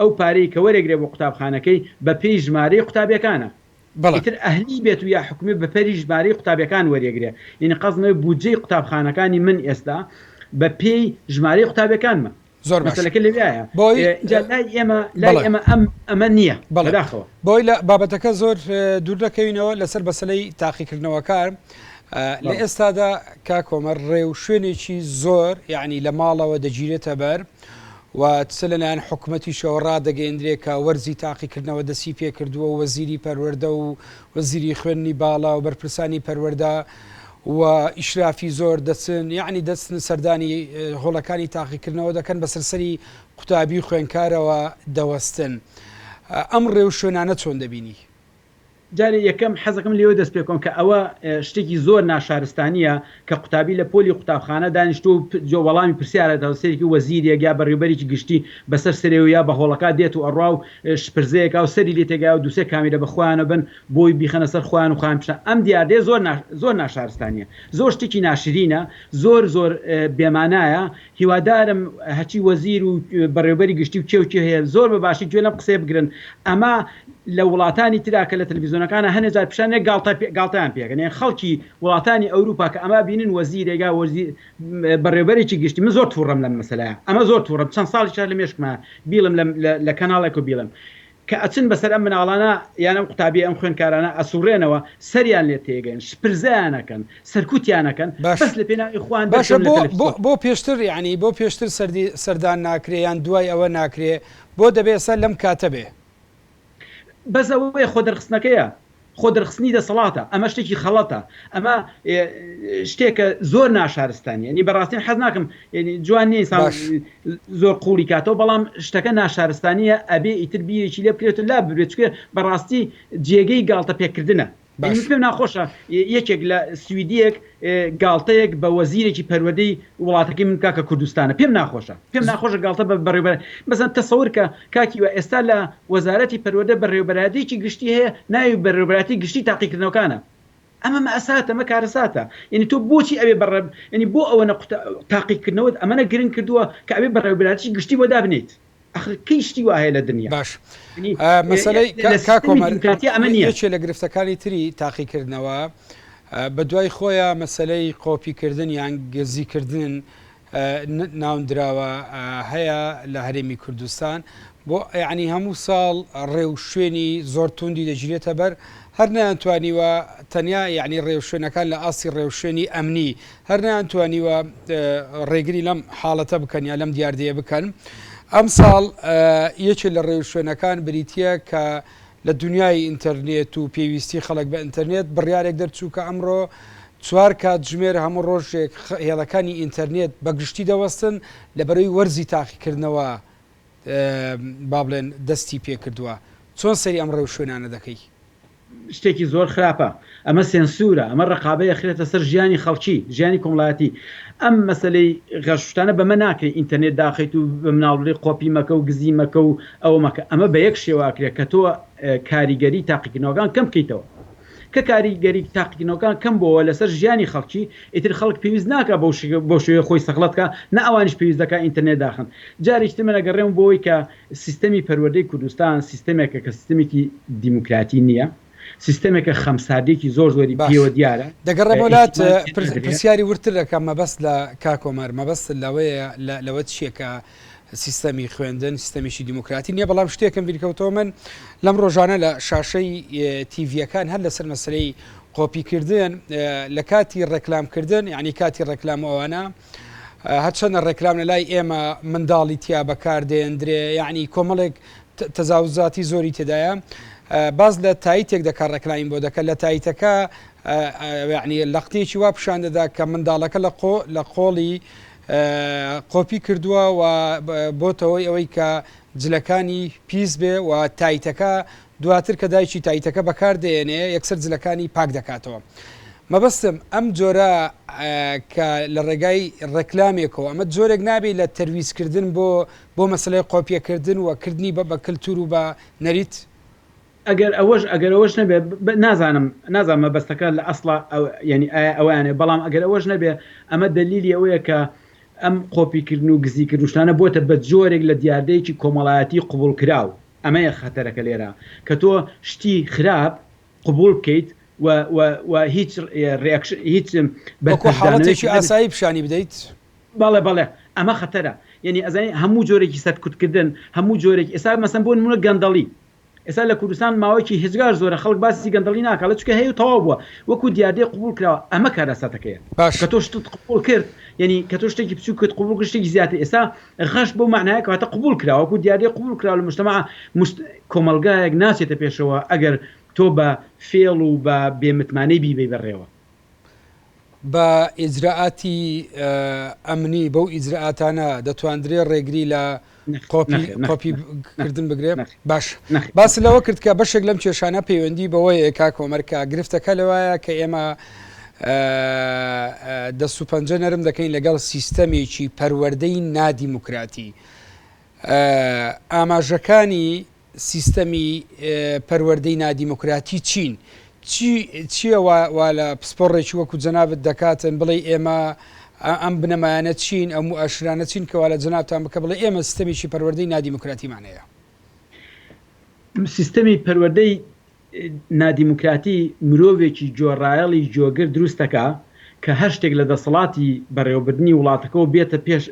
ئەو پارەی کە وەرئەگرێ بۆ قوتابخانەکەی بە پێی ژمارەی قوتابیەکانە بەڵێ. ئیتر ئەهلی بێت و یا حکومی بە پری ژمارەی قوتابیەکان وەریەگرێ یەنی قەزم ئەوەیە بودجەی قوتابخانەکانی من ئێستا بە پێی ژمارەی قوتابیەکانمە زۆر باشە مەسەلەکە لەویایە بۆی ئینجا لای ئێمە لای بەڵێ ئێمە ئەم ئەمە نیە بەڵێ بەداخەوە. بۆی لە بابەتەکە زۆر دوور نەکەوینەوە لەسەر بەسەلەی تاقیکردنەوەکار ئە لە بەڵێ. ئێستادا کاک هۆمەر ڕێ و شوێنێکی زۆر یەعنی لە ماڵەوە دەگیرێتە بەر. و چ لەلایەن حکومەتیشەوە ڕادەگەیەندرێ کە وەرزی تاقیکردنەوە دەسی پێکردووە و وەزیری پەروەردە و وەزیری خوێندنی باڵا و بەرپرسانی پەروەردە و ئیشرافی زۆر دەچن یعنی دەچن سەردانی هۆڵەکانی تاقیکردنەوە دەکەن بە سەرسەری قوتابی خوێنکارەوە دەوەستن ئەم ڕێو شوێنانە چۆن دەبینی؟ جارێ یەکەم حەزەکەم لێوە دەست پێکۆم کە ئەوە شتێکی زۆر ناشارستانیە کە قوتابی لە پۆلی قوتابخانە دانیشتوە و جۆ وەڵامی پرسیارە دەوە سەرێکی وەزیرێک یا بەڕیوبەرێکی گشتی بەسەر سەرێ و یا بە هۆڵەکا دێت و ئەڕوا و شپرزەیەکا و سەری لێ تێکایە و دوسێ کامیرە بە خۆیانە بن بۆی بیخەنە سەر خۆیان و خۆیان بشنە ئەم دیاردەیە زۆر زۆر ناشارستانیە زۆر شتێکی ناشرینە زۆر زۆر بێمانایە هیوادارم هەرچی وەزیر و بەڕێوبەری گشتی و کێ و کێ هەیە زۆر بە باشی گوێ لەم قسەیە بگرن ئەمە لە وڵاتانی ترا کە لە تەلەفیزۆنەکانا هەنێ جار پیشانێ گاڵتە گاڵتەیان پێ ئەکەن یان خەڵکی وڵاتانی ئەوروپا کە ئەمە ئەبینن وەزیرێک یا وەزی بەڕێوبەرێکی گشتی من زۆر توڕەم لەم مەسەلەیە ئەمە زۆر توڕەم چەند ساڵیشە لە مێشکما بیڵێم لە لە کەناڵێک و بیڵێم کە ئەچن بەسەر ئەم مناڵانە یان ئەم قوتابیە ئەم خوێنکارانە ئەسوڕێنەوە سەریان لێ تێگەن شپرزەیان ئەکەن سەرکوتیان ئەکەن بەس لە پێناوی خۆیان دەرکەون لە تەلەفزیۆن. باشە بۆ پێشتر یانی بۆ پێشتر سەردی سەردان ناکرێ یان دوای ئەوە ناکرێ بۆ دەبێ ئێستا لەم کاتە بێ؟ بەس ئەوەیە خۆ دەرخستنەکەیە خۆ دەرخستنی دەسەڵاتە ئەمە شتێکی خەڵەتە ئەمە شتێکە زۆر ناشارستانی ینی بەڕاستین حەز ناکەم ینی جوان نیە ئینسان باش. زۆر قوڵی کاتەوە بەڵام شتەکە ناشارستانیە ئەبێ ئیتر بیرێکی لێ بکرێت و لا ببرێت چکێ بەڕاستی جێگەی گاڵتە پێکردنە باشە. بینیسم ناخۆشە یەکێک لە سویدیەک گاڵتەیەک بە وەزیرێکی پەروەردەی وڵاتەکەی من بکا کە کوردستانە پێم ناخۆشە پێم ناخۆشە گاڵتە بە بەڕێوبەر مەسەن تەسەور کە کاک هیوا ئێستا لە وەزارەتی پەروەردە بەڕێوبەرایەتیەکی گشتی هەیە ناوی بەڕێوبەرایەتی گشتی تاقیکردنەوەکانە ئەمە مەئەساتە ئەمە کارەساتە یەنی تۆ بۆچی ئەوێ بەڕێ یەنی بۆ ئەوەنە قوتە تاقیکردنەوەت ئەمەنە گرنگ کردووە کە ئەوێ بەڕێوبەرایەتیی گشتی بۆ دابنێیت ئەخر کەی شتی وا هەیە لە دنیا؟ باش مەسەلەی کاک کۆمەر یەکێ لە گرفتەکانی تری تاقیکردنەوە بە دوای خۆیان مەسەلەی قۆپیکردن یان گزیکردن ناوندراوە هەیە لە هەرێمی کوردستان بۆ یعنی هەموو ساڵ ڕێو شوێنی زۆر توندی دەگیرێتە بەر هەر نەیانتوانیوە تەنیا یعنی ڕێوشوێنەکان لە ئاستی ڕێوشوێنی ئەمنی هەر نەیانتوانیوە ڕێگری لەم حاڵەتە بکەن یا لەم دیاردەیە بکەن. ئەمساڵ یەکێ لە ڕێوشوێنەکان بریتییە کە لە دونیای ئینتەرنێت و پێویستی خەڵک بە ئینتەرنێت بڕیارێک دەرچوو کە ئەمڕۆ چوار کاتژمێر هەموو ڕۆژێک هێڵەکانی ئینتەرنێت بە گشتی دەوەستن لە بەرەی وەرزی تاقیکردنەوە با بڵێن دەستی پێکردووە. چۆن سەیری ئەم ڕێوشوێنانە دەکەی؟ شتێکی زۆر خراپە ئەمە سێنسورە ئەمە ڕەقابەی ئەخرێتە سەر ژیانی خەڵکی ژیانی کۆمڵایەتی ئەم مەسەلەی غەش وشتانە بەمە ناکرێ ئینتەرنێت داخەیت و بە مناڵ بڵێ قۆپی مەکە و گزی مەکە و ئەوە مەکە ئەمە بە یەک شێوە ئەکرێ کە تۆ کاریگەری تاقیکردنەوەکان کەم بکەیتەوە کە کاریگەری تاقیکردنەوەکان کەم بۆوە لەسەر ژیانی خەڵکی ئیتر خەڵک پێویست ناکا بەو شێوەیە خۆی سەخڵەت کا نە ئەوانیش پێویست دەکا ئینتەرنێت داخەن جارێکی تر من ئەگەڕێم بۆ ئەوەی کە سیستەمی پەروەردەی کوردستان سیستەمێکە کە سیستەمێکی دیموکراتی نییە، سیستەمێکە خەمساردیەکی زۆر زۆری باش پێوە دیارە، دەگەڕێمەوە لات ئیحتیمال پێ پرس نادرێ. پرسیاری وردتر دەکەم مەبەست لە کاک ئۆمەر مەبەست لەوەیە لە لەوە چیە کە سیستەمی خوێندن سیستەمیی دیموکراتی نیە بەڵام شتێکم بیرکەوتەوە من لەم ڕۆژانە لە شاشەی تیڤیەکان هەر لەسەر مەسەلەی قۆپی کردن لە کاتی ڕێکلام کردن یانی کاتی ڕێکلام و ئەوانە هەرچەندە ڕێکلام لە لای ئێمە منداڵی تیا بەکار دێندرێ یعنی کۆمەڵێک تەزاوزاتی زۆری تێدایە باز لە تایتێک دەکە ڕێکلاین بۆ دەکە لە تایتەکە یعنی لەقتێکی وا پیشان دەدا کە منداڵەکە لە قۆ لە قۆڵی قۆپی کردووە و بۆتەوەی ئەوەی کە جلەکانی پیس بێ و تایتەکە دواتر کە دایکی تایتەکە بەکار دەیەنێ یەکسەر جلەکانی پاک دەکاتەوە. مەبەستم ئەم جۆرە کە لە ڕێگای ڕێکلامێکەوە ئەمە جۆرێک نابی لە تەرویج کردن بۆ بۆ مەسەلەی قۆپیە کردن و کردنی بە بە کلتور و بە نەریت؟ ئەگەر ئەوەش ئەگەر ئەوەش نەبێ بە نازانم نازانم مەبەستەکە لە ئەسڵا ئەو یانی ئایا ئەوەیانێ بەڵام ئەگەر ئەوەش نەبێ ئەمە دەلیلی ئەوەیە کە ئەم قۆپی کردن و گزی کردن و شتانە بۆتە بە جۆرێک لە دیاردەیەکی کۆمەڵایەتی قبوڵ کراو. ئەمەیە خەتەرەکە لێرە کە تۆ شتی خراپ قبوڵ بکەیت و و و هیچ ڕیاکشن هیچ وەکو حاڵەتێکی بەرپەرچدانەوەیەکی ئاسایی پیشانی بدەیت. بەڵێ بەڵێ ئەمە خەتەرە یەنی ئەزانین هەموو جۆرێکی سەرکوتکردن هەموو جۆرێک ئێستا مەسەن بۆ نمونە گەندەڵی ئێستا لە کوردستان ماوەیەکی هێجگار زۆرە خەڵک باسی گەندەڵی ناکات چونکە هەیە و تەواو بووە وەکو دیاردەی قبوڵ کراوە ئەمە کارەساتەکەیە کە باشە. تۆ شتت قبوڵ کرد یەنی کە تۆ شتێکی بچوکت قبوڵ کرد شتێکی زیاتر ئێستا غەش بەو مەعنایە کە واتە قبوڵ کرا، وەکو دیاردەی قبوڵ کرا لە مجتمع، مجت، کۆمەڵگایەک ناچێتە پێشەوە ئەگەر تۆ بە فێڵ و بە بێ متمانەی بیبەی بەڕێوە. بە ئیجرائاتی ئەمنی، بەو ئیجرائاتانە دەتواندرێ ڕێگری لە نەخێر، نەخێر، کۆپی نەخێر، کردن بگرێ. نەخێر، باش باست لەوە کرد کە بەشێک لەم کێشانە پەیوەندی بەوەیە کاک هۆمەر کە گرفتەکە لەوایە کە ئێمە دەست و پەنجە نەرم دەکەین لەگەڵ سیستەمێکی پەروەردەی نادیموکراتی ئاماژەکانی سیستەمی پەروەردەی نادیموکراتی چین چی چیە وا وا لە پسپۆڕێکی وەکو جەنابت دەکاتن بڵێی ئێمە ئە ئەم بنەمایانە چین ئەو موئەشرانە چین کە وا لە جەنابتان بکە بڵێ ئێمە سیستەمێکی پەروەردەی نادیموکراتیمان هەیە؟ سیستەمی پەروەردەی نادیموکراتی مرۆڤێکی گوێڕایەڵی گوێگر دروست دەکا کە هەر شتێک لە دەسەڵاتی بەڕێوەبردنی وڵاتەکەوە بێتە پێش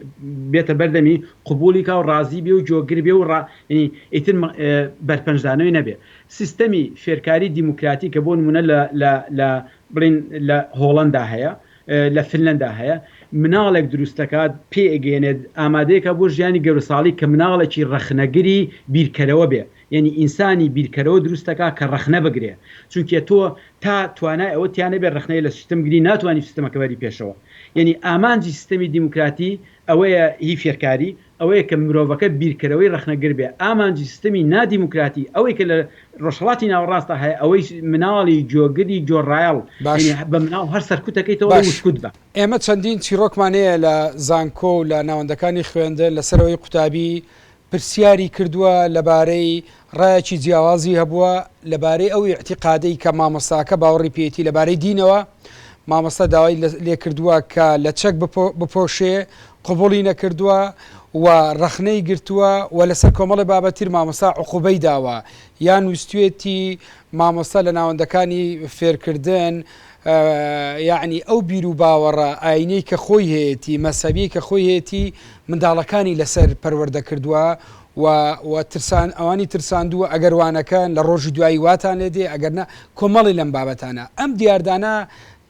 بێتە بەر دەمی قبووڵی کا و ڕازی بێ و گوێگر بێ و ڕا یەنی ئیتر بەرپەنجدانەوەی نەبێ سیستەمی فێرکاری دیموکراتی کە بۆ نموونە لە لە لە بڵێن لە هۆڵەندا هەیە، لە فنلەندا هەیە، مناڵێک دروست دەکات، پێ ئەگەیەنێت، ئامادە ئەکات بۆ ژیانی گەروساڵی کە مناڵێکی ڕەخنەگری بیرکەرەوە بێ، یانی ئینسانی بیرکەرەوە دروست دەکات کە ڕەخنە بگرێ، چونکێ تۆ تا توانای ئەوەت تیا نەبێ ڕەخنەی لە سیستم بگری ناتوانی سیستمەکە بەری پێشەوە. یانی ئامانجی سیستەمی دیموکراتی ئەوەیە هی فێرکاری، ئەوەیە کە مرۆڤەکە بیرکەرەوەی ڕەخنەگر بێ، ئامانجی سیستەمی نادیموکراتی ئەوەی کە لە ڕۆژهەڵاتی ناوەڕاستدا هەیە ئەوەی مناڵی جۆگری جۆرایەڵ باش. یەنی بە مناڵ هەر سەرکوت دەکەیتەوە ڵێی باش. وشکوت بە. ئێمە چەندین چیڕۆکمان هەیە لە زانکۆ و لە ناوەندەکانی خوێندن لەسەر ئەوەی قوتابی پرسیاری کردووە لەبارەی ڕایەکی جیاوازی هەبووە لەبارەی ئەو ئیعتیقادەی کە مامۆستاکە باوەڕی پێیەتی لەبارەی دینەوە، مامۆستا داوای لێکردووە کە لە چەک بپۆشێ قبوڵی نەکردووە و ڕەخنەی گرتووە و لەسەر کۆمەڵێ بابەت تر مامۆستا عقوبەی داوە یان ویستوێتی مامۆستا لە ناوەندەکانی فێرکردن یەعنی ئەو بیروباوەڕە ئاینیەی کە خۆی هەیەتی مەزهەبیەی کە خۆی هەیەتی منداڵەکانی لەسەر پەروەردە کردووە و و ترسان ئەوانی ترساندووە ئەگەر وانەکەن لە ڕۆژی دوایی واتان لێ دێ ئەگەر نە کۆمەڵی لەم بابەتانە ئەم دیاردانە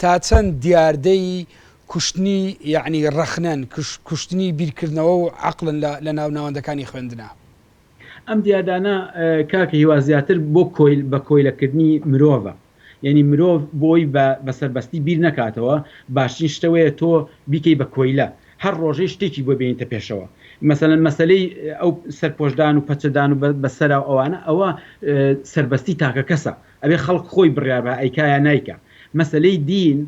تا چەند دیاردەی کوشتنی یعنی ڕەخنەن کوشتنی بیرکردنەوە و عەقڵن لە لە ناو ناوەندەکانی خوێندنا. ئەم دیاردانە کاک هیوا زیاتر بۆ کۆیل بە کۆیلەکردنی مرۆڤە یانی مرۆڤ بۆی بە بەسەربەستی بیر نەکاتەوە باشترین شتە وەیە تۆ بیکەی بە کۆیلە هەر ڕۆژەی شتێکی بۆ بێنیتە پێشەوە مەسەلەن مەسەلەی ئەو سەرپۆشدان و پەچەدان و بە سەراو ئەوانە ئەوە سەربەستی تاکەکەسە ئەبێ خەڵک خۆی بڕیار بە ئەیکا یا نایکا مەسەلەی دین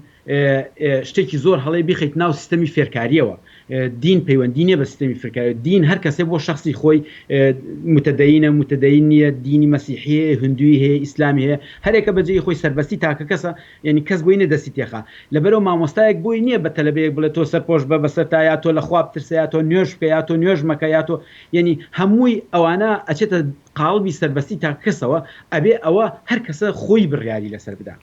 شتێکی زۆر هەڵەیە بیخەیت ناو سیستەمی فێرکاریەوە دین پەیوەندی نیە بە سیستەمی فێرکاری دین هەر کەسێ بۆ شخصی خۆی متدەینە متدەین نیە دینی مەسیحی هندوی هەیە ئیسلامی هەیە هەرێکە بەجێی خۆی سەربەستی تاکە کەسە یعنی کەس بۆی نیە دەستی تێخا لەبەرەو مامۆستایەک بۆی نیە بە تەلەبەیەک بڵێ تۆ سەرپۆش بە بەسەر تا یا تۆ لە خوا بترسە یا تۆ نوێژ بکە یا تۆ نوێژ مەکە یا تۆ یعنی هەمووی ئەوانە ئەچێتە قاڵبی سەربەستی تاکە کەسەوە ئەبێ ئەوە هەر کەسە خۆی بڕیاری لەسەر بدات.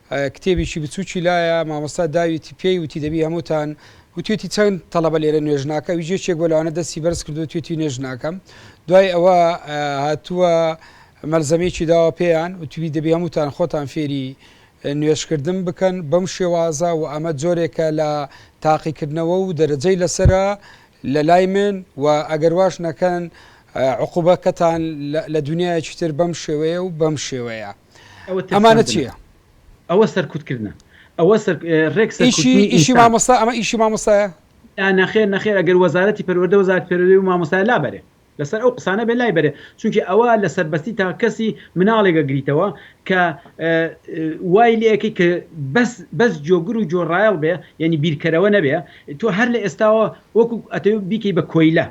کتێبیکی بچوکی لایە مامۆستا داویتی پێی وتی دەبی هەموتان وتویتی چەند تەڵەبە لێرە نوێژ ناکە ویش یەکێک بۆ لەوانە دەستی بەرز کردو تویتی نوێژ ناکەم دوای ئەوە هاتووە مەلزەمەیەکی داوە پێیان وتوی دەبی هەموتان خۆتان فێری نوێژکردن بکەن بەم شێوازە و ئەمە جۆرێکە لە تاقیکردنەوە و دەرەجەی لەسرە لە لای من و ئەگەر واش نەکەن عقوبەکەتان لە دنیایەکی تر بەم شێوەیە و بەم شێوەیە. ئەمانە چیە ئەوە سەرکوتکردە ئەوە ڕێک ئیشی مامۆستا ئەمە ئیشی مامۆستایە نەخێر نەخێر ئەگەر وەزارەتی پەروەردە وەزارت پەروەردەی و مامۆستا لابەرێ لەسەر ئەو قسانە بێ لای بەرێ چونکی ئەوە لە سەربەستی تا کەسی مناڵێگە گریتەوە کە وای لەکەی کە بەس بەس جۆگر و جۆڕایڵ بێ یعنی بیرکەرەوە نەبێ تۆ هەر لە ئێستاوە وەکو ئەتەوە بیکەی بە کۆیلە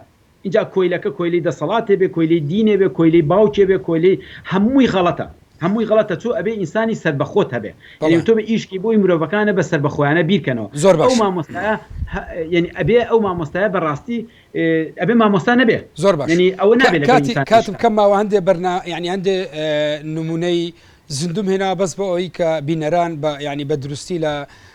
ئینجا کۆیلەکە کۆیلەی دەسەڵاتێ بێ کۆیلەی دینێ بێ کۆیلەی باوکێ بێ کۆیلەی هەمووی غەڵەتە هەمووی غەڵەتە چۆ ئەبێ ئینسانی سەربەخۆت هەبێ یەنی بەڵێ. وتۆبێ ئیشکی بۆی مرۆڤەکانە بە سەربەخۆیانە بیر کەنەوە زۆر ئەو باشە. مامۆستایە هە یەنی ئەبێ ئەو مامۆستایە بە ڕاستی اه ئەبێ مامۆستا نەبێ زۆر باشە یەنی ئەوە کا نابێ لەگەڵ کاتی ئینسان ئیش کاتم کات. کەم ماوە هەندێ بەرنا یەنی هەندێ اه نموونەی زیندووم هێناوە بەس بۆ ئەوەی کە بینەران بە یەنی بە دروستی لە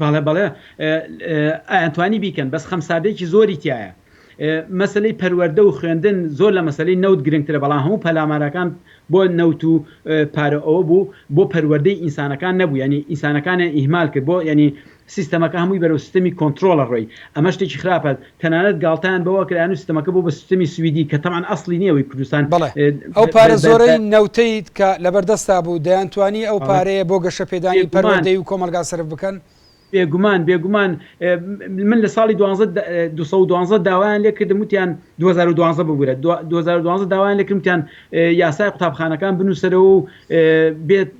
بەڵێ بەڵێ ئەیانتوانی بیکەن بەس خەمساردێکی زۆری تیایە مەسەلەی پەروەردە و خوێندن زۆر لە مەسەلەی نەوت گرنگترە بەڵام هەموو پەلامارەکان بۆ نەوت و پارە ئەوە بوو بۆ پەروەردەی ئینسانەکان نەبوو یعنی ئینسانەکانیان ئیهمال کرد بۆ یعنی سیستەمەکە هەمووی بەرەو سیستەمی کۆنترۆڵە ڕۆی ئەمە شتێکی خراپە تەنانەت گاڵتەیان بەوە کرا یانوو ستەمەکە بۆ بە سستەمی سویدی کە تەبعەن ئەسڵی نیە ئەوەی کوردستان بەڵێ ئەو پارە زۆرەی نەوتەیت کە لەبەر دەستا بوو دەیانتوانی ئەو پارەیە بۆ گەشە پێدانی پەروەردەی و کۆمەڵگا سەرف بکەن؟ بێگومان بێگومان من لە ساڵی دوانزە دە دوو سەد و دوانزە داوایان لێ کردم وتیان دوو هەزار و دوانزە ببورە دوا دوو هەزار و دوانزە داوایان لێ کردم وتیان یاسای قوتابخانەکان بنووسەرەوە و بێت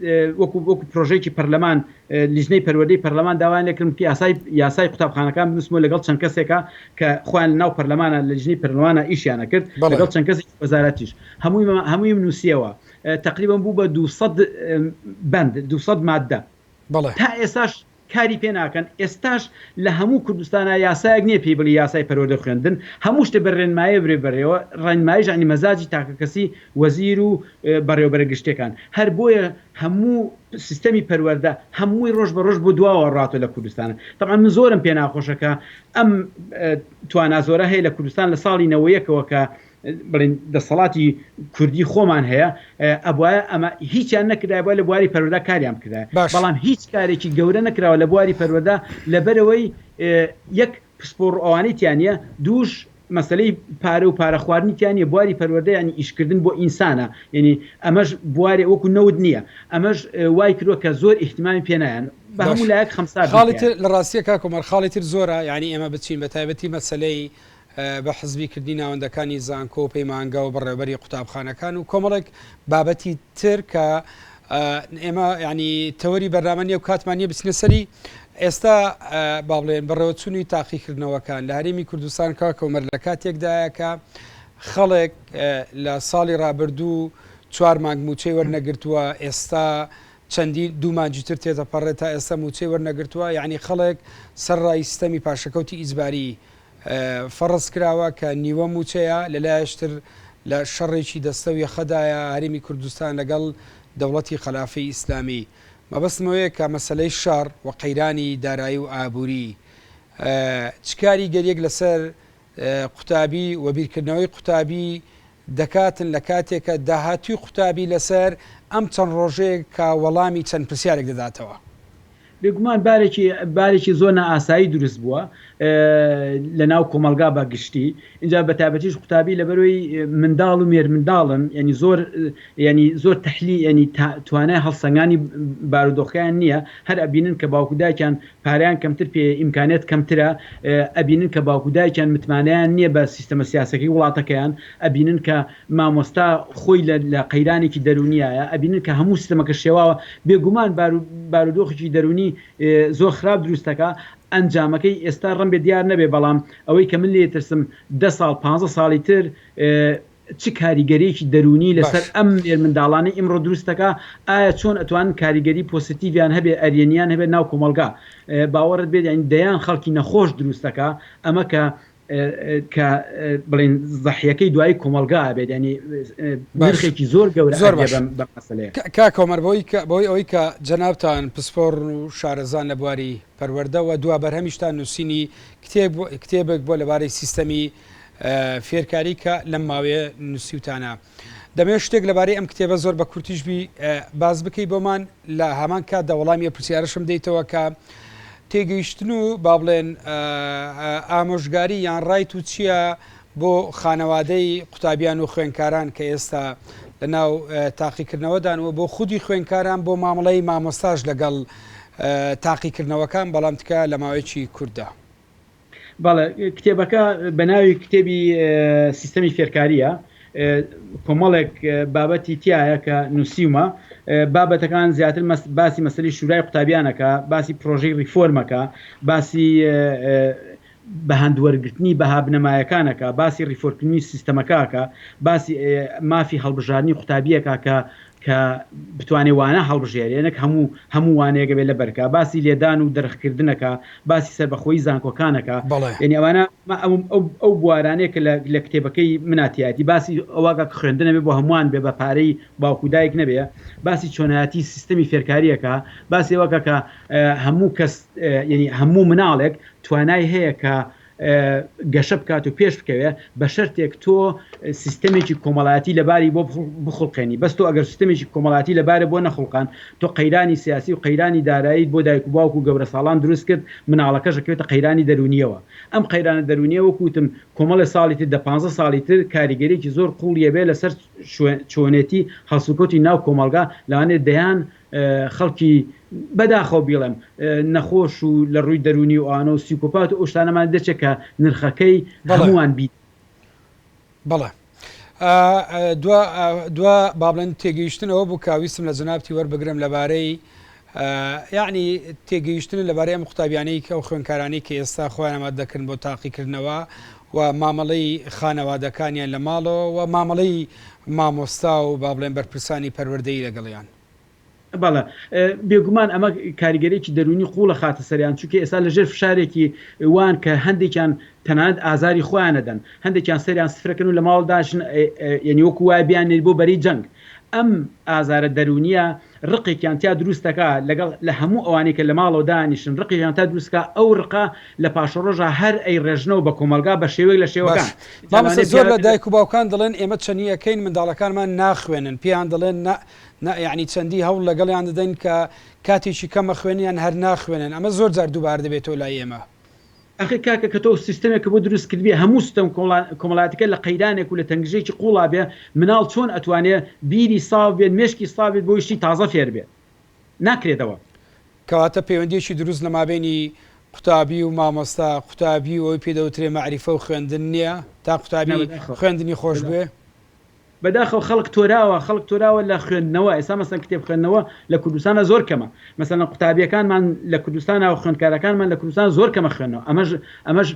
وەکوو وەکوو پرۆژەیەکی پەرلەمان لیژنەی پەروەردەی پەرلەمان داوایان لێکردم کە یاسای یاسای قوتابخانەکان بنووسم و لەگەڵ چەند کەسێکا کە خۆیان لەناو پەرلەمانە لە لیژنەی پەرلەمانە ئیشیان ئەکرد بەڵێ. لەگەڵ چەند کەسێکی وەزارەتیش هەموویمە هەموویم نووسیەوە اه، تەقریبەن بوو بە دوو سەد اه، بەند دوو سەد ماددە بەڵێ. تا ئێستاش کاری پێ ناکەن ئێستاش لە هەموو کوردستانا یاسایەک نیە پێی بڵێی یاسای پەروەردە و خوێندن هەموو شتێ بە رێنمایە برێ بەرێوە رێنمایش یانی مەزاجی تاکە کەسی وەزیر و اه، بەڕێوەبەرە گشتیەکان هەر بۆیە هەموو سیستەمی پەروەردە هەمووی ڕۆژ بە ڕۆژ بۆ دواوە ڕاتۆ لە کوردستانا تەبعەن من زۆرم پێ ناخۆشە کە ئەم توانا زۆرە هەیە لە کوردستان لە ساڵی نەوەیەکەوە کە بڵین دەسەڵاتی کوردی خۆمان هەیە ئەبواە ئەمە هیچیان نەکرای بۆ لە بواری پەروەدا کاریان بکرای بەڵام هیچ کارێکی گەورە نەکراوە لە بواری پەروەدا لەبەرەوەی یەک پسپۆڕ ئەوانەی تیا نیە دووش مەسەلەی پارە و پارە خواردنی تیا نیە بواری پەروەردە یانی ئیش کردن بۆ ئینسانە یانی ئەمەش بوارێ وەکو نەوت نیە ئەمەش وای کردوە کە زۆر ئیهتمامی پێ نایەن بە هەموو باشە لایەک خەمسارد خاڵی تر نەکەیان. لە ڕاستیە کاک عومەر خاڵی تر زۆرە یانی ئێمە بچین بە تایبەتی مەسەلەی بە حزبی کردنی ناوەندەکانی زانکۆ و پەیمانگە و بەڕێوەبەری قوتابخانەکان و کۆمەڵێک بابەتی تر کە ئێمە یانی تەوەری بەرنامە نیە و کاتمان نیە بچنە سەری ئێستا با بڵێن بەڕێوەچوونی تاقیکردنەوەکان لە هەرێمی کوردستان کا کۆمەر لە کاتێکدایە کە خەڵێک لە ساڵی ڕابردوو چوار مانگ موچەی وەرنەگرتووە ئێستا چەندی دوومانجیتر تێتەپەڕێت تا ئێستا موچەی وەرنەگرتووە یعنی خەڵێک سەرڕای سیستەمی پاشەکەوتی ئیجباری فەڕز کراوە کە نیوە مووچەیە، لە لایەش تر لە شەڕێکی دەستە و یەخەدایە هەرێمی کوردستان لەگەڵ دەوڵەتی خەلافەی ئیسلامی. مەبەستم ئەوەیە کە مەسەلەی شەڕ و قەیرانی دارایی و ئابووری چ کاریگەرییەک لەسەر قوتابی و بیرکردنەوەی قوتابی دەکاتن لە کاتێکە داهاتووی قوتابی لەسەر ئەم چەند ڕۆژەیەک کە وەڵامی چەند پرسیارێک دەداتەوە. بێگومان بارێکی بارێکی زۆر نائاسایی دروست بووە لە ناو کۆمەڵگا بە گشتی ئینجا بە تایبەتیش قوتابی لەبەرەوەی منداڵ و مێرمنداڵن یانی زۆر یانی زۆر تەحلی یانی توانای هەڵسەنگانی بارودۆخەکەیان نییە هەر ئەبینن کە باوک و دایکیان پارەیان کەمتر پێیە، ئیمکانیات کەمترە، ئەبینن کە باوک و دایکیان متمانەیان نییە بە سیستەمە سیاسیەکەی وڵاتەکەیان، ئەبینن کە مامۆستا خۆی لە قەیرانێکی دەروونیایە، ئەبینن کە هەموو سیستەمەکە شێواوە، بێگومان بارودۆخێکی دەروونی زۆر خراپ دروست دەکا، ئەنجامەکەی ئێستا رەمبێ دیار نەبێ، بەڵام ئەوەی کە من لێی ئەترسم دە ساڵ پانزە ساڵی تر چ کاریگەریەکی دەروونی لەسەر باش. ئەم مێرمنداڵانەی ئیمڕۆ دروست دەکا؟ ئایا چۆن ئەتوانن کاریگەری پۆسیتیڤیان هەبێ ئەرێنیان هەبێ ناو کۆمەڵگا؟ باوەڕت بێت یانی دەیان خەڵکی نەخۆش دروست دەکا ئەمە کە کە بڵێن زەحیەکەی دوایی کۆمەڵگا ئەبێت یانی باش. نرخێکی زۆر گەورە زۆر ئەبێ باش. بەم بەم مەسەلەیە. کا کاک عومەر بەوەی کە بەوەی ئەوەی کە جەنابتان پسپۆڕن و شارەزان لە بواری پەروەردە وە دوا بەرهەمیشتان نووسینی کتێب کتێبێک بووە لەبارەی سیستەمی فێرکاری کە لەم ماوەیە نوسیوتانە. دەمەوێت شتێک لەبارەی ئەم کتێبە زۆر بە کورتیش بی باس بکەی بۆمان لە هامان کاتدا وەڵامی ئەو پرسیارەشم دەیتەوە کە تێگەیشتن و با بڵێن ئامۆژگاری یان ڕای تو چییە بۆ خانەوادەی قوتابیان و خوێنکاران کە ئێستا لە ناو تاقیکردنەوەدان و بۆ خودی خوێنکاران بۆ مامەڵەی مامۆستاش لەگەڵ تاقیکردنەوەکان بەڵام تکە لە ماوەیەکی کوورتدا. بەڵێ کتێبەکە بە ناوی کتێبی سیستەمی فێرکاریە کۆمەڵێک بابەتی تایە کە نووسیومە بابەتەکان زیاتر باسی مەسلی شورای قوتابیانەکە باسی پرۆژەی ریفۆرمەکە باسی بە هەندوەرگرتنی بەها بنەمایەکانەکە باسی ریفۆرکردنی سیستەمەکەکە باسی مافی هەڵبژارنی قوتابیەکە کە کە بتوانێ وانە هەڵبژێرێ نەک هەموو هەموو وانەیەک بێ لەبەر کا باسی لێدان و درخ کردنە کا باسی سەربەخۆیی زانکۆکانە کا یەنی ئەوانە ئەو بوارانەیە کە لە کتێبەکەی منا تیایەتی باسی ئەوە کا کە خوێندنە بێ بۆ هەمووان بێ بە پارەی باوکو دایک نەبێ باسی چۆنایەتی سیستەمی فێرکاریە کا باسی ئەوە کا کە هەموو کەس یەنی هەموو مناڵێک توانای هەیە کە گەشە بکات و پێش بکەوێ بە شەرتێک تۆ سیستەمێکی کۆمەڵایەتی لە باری بۆ بخوڵقێنی بەس تۆ ئەگەر سیستەمێکی کۆمەڵایەتی لە بارە بۆ نەخوڵقان تۆ قەیرانی سیاسی و قەیرانی داراییت بۆ دایک و باوک و گەورە ساڵان دروست کرد مناڵەکەش ئەکەوێتە قەیرانی دەروونییەوە ئەم قەیرانە دەروونییە وەکو وتم کۆمەڵێ ساڵی تر دە پانزە ساڵی تر کاریگەریەکی زۆر قوڵی ئەبێ لەسەر چۆنێتی هەڵسوکەوتی ناو کۆمەڵگا لەوانەیە دەیان خەڵکی بە داخەوە بیڵێم نەخۆش و لە ڕووی دەروونی و ئانە و سیکۆپات و ئەو شتانەمان دەچێت کە نرخەکەی هەمووان بیت. بەڵێ دوا با بڵێن تێگەیشتنەوە بوو کە ویستم لە جەنابتی وەربگرم لەبارەی یعنی تێگەیشتن لەبارەی ئەم قوتابیانەی کە ئەو خوێنکارانی کە ئێستا خۆیانەمە دەکردن بۆ تاقیکردنەوە و مامەڵەی خانەوادەکانیان لە ماڵەوە و مامەڵەی مامۆستا و با بڵێن بەرپرسانی پەروەردەیی لەگەڵیان. بەڵێ، بێگومان ئەمە کاریگەرییەکی دەروونی قووڵ ئەخاتە سەریان، چونکە ئێستا لە ژێر فشارێکی وان کە هەندێکیان تەنانەت ئازاری خۆیان ئەدەن، هەندێکیان سەریان سفرەکەن و لە ماڵ دانیشن، یەنی وەکوو وایە بیاننێرین بۆ بەرەی جەنگ، ئەم ئازارە دەروونیە ڕقێکیان تیا دروست دەکا لەگەڵ لە هەموو ئەوانەی کە لە ماڵەوە دانیشن ڕقێکیان تا دروست کا ئەو ڕقە لە پاشەڕۆژا هەر ئەی ڕێژنەوە بە کۆمەڵگا بە شێوەیەک لە شێوەکان باش جا مامۆستا لەوانەیە زۆر لە پیاوێک دایک و باوکان دەڵێن ئێمە چنی ئەکەین منداڵەکانمان ناخوێنن پێیان دەڵێن نا نا یەعنی چەندی هەوڵ لەگەڵیان دەدەین کە کاتێکی کەمە خوێن یان هەر ناخوێنن ئەمە زۆر جار دووبارە دەبێتەوە لای ئێمە ئەخەی کاکە کە تۆ سیستەمێک کە بۆ دروست کردبێ هەموو ستەم کۆڵا کۆمەڵاتەکە لە قەیرانێک و لە تەنگژەیەکی قوڵا بێ مناڵ چۆن ئەتوانێ بیری ساف بێت مێشکی ساف بێت بۆی شتی تازە فێر بێت ناکرێتەوە. کەواتە پەیوەندیەکی دروست لە مابەینی قوتابی و مامۆستا قوتابی و ئەوەی پێی دەوترێ مەعریفە و خوێندن نیە تا قوتابی خوێندنی خۆش بوێ؟ بەداخەوە خەڵک تۆراوە خەڵک تۆراوە لە خوێندنەوە ئێستا مەسەن کتێب خوێندنەوە لە کوردستانا زۆر کەمە مەسەلەن قوتابیەکانمان لە کوردستانا و خوێندکارەکانمان لە کوردستان زۆر کەمە خوێندنەوە ئەمەش ئەمەش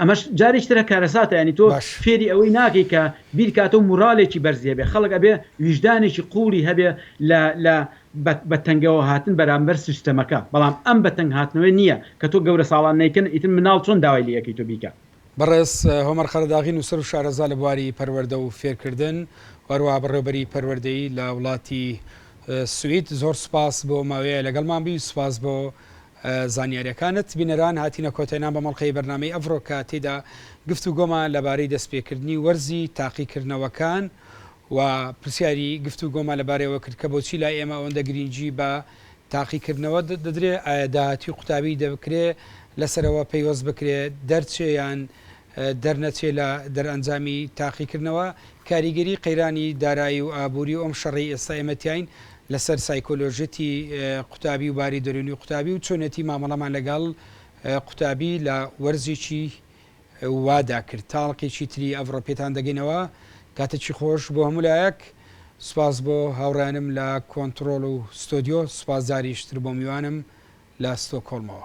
ئەمەش جاریش ترە کارەساتە یانی تۆ باش فێری ئەوەی ناکەی کە بیرکاتەو موڕالێکی بەرزی هەبێ خەڵک ئەبێ ویژدانێکی قوڵی هەبێ لە لە بە بە تەنگەوە هاتن بەرامبەر سیستەمەکە بەڵام ئەم بە تەنگ هاتنەوەی نیە کە تۆ گەورە ساڵان نیکن ئیتر مناڵ چۆن داوای لێ ئەکەی تۆ بیکا بەڕێز هۆمەر قەرەداغی نووسەر و شارەزا لە بواری پەروەردە و فێرکردن و هەروەها بەڕێوەبەری پەروەردەیی لە وڵاتی سوید زۆر سوپاس بۆ ماوەیە لەگەڵمان بی سوپاس بۆ زانیاریەکانت بینەران هاتینە کۆتێنان بە مەڵقەی بەرنمەی ئەڤڕۆ کە تێدا گفت و گۆمان لەبارەی دەستپێکردنی وەرزی تاقیکردنەوەکان و پرسیاری گفت و گۆمان لەبارەوە کرد کە بۆچی لای ئێمە ئەوەندە گرنگی بە تاقیکردنەوە دەدرێ ئایا داهاتوی قوتابی دەکرێ لەسەرەوە پەیوەست بکرێ دەرچێ یان دەرنەچێ لە دەرئەنجامی تاقیکردنەوە کاریگەری قەیرانی دارایی و ئابوری و ئەم شەڕەی ئێستا ئێمە تیاین لەسەر سایکۆلۆژێتی قوتابی و باری دەرونی قوتابی و چۆنێتی مامەڵەمان لەگەڵ قوتابی لە وەرزێکی وادا کرد تاڵقێکی تری ئەڤڕۆ پێتان دەگەینەوە کاتەکی خۆش بۆ هەموو لایەک سوپاس بۆ هاوڕێیانم لە کۆنتڕۆڵ و ستۆدیۆ سوپاس جاریش تر بۆ میوانم لە ستۆکۆڵمەوە.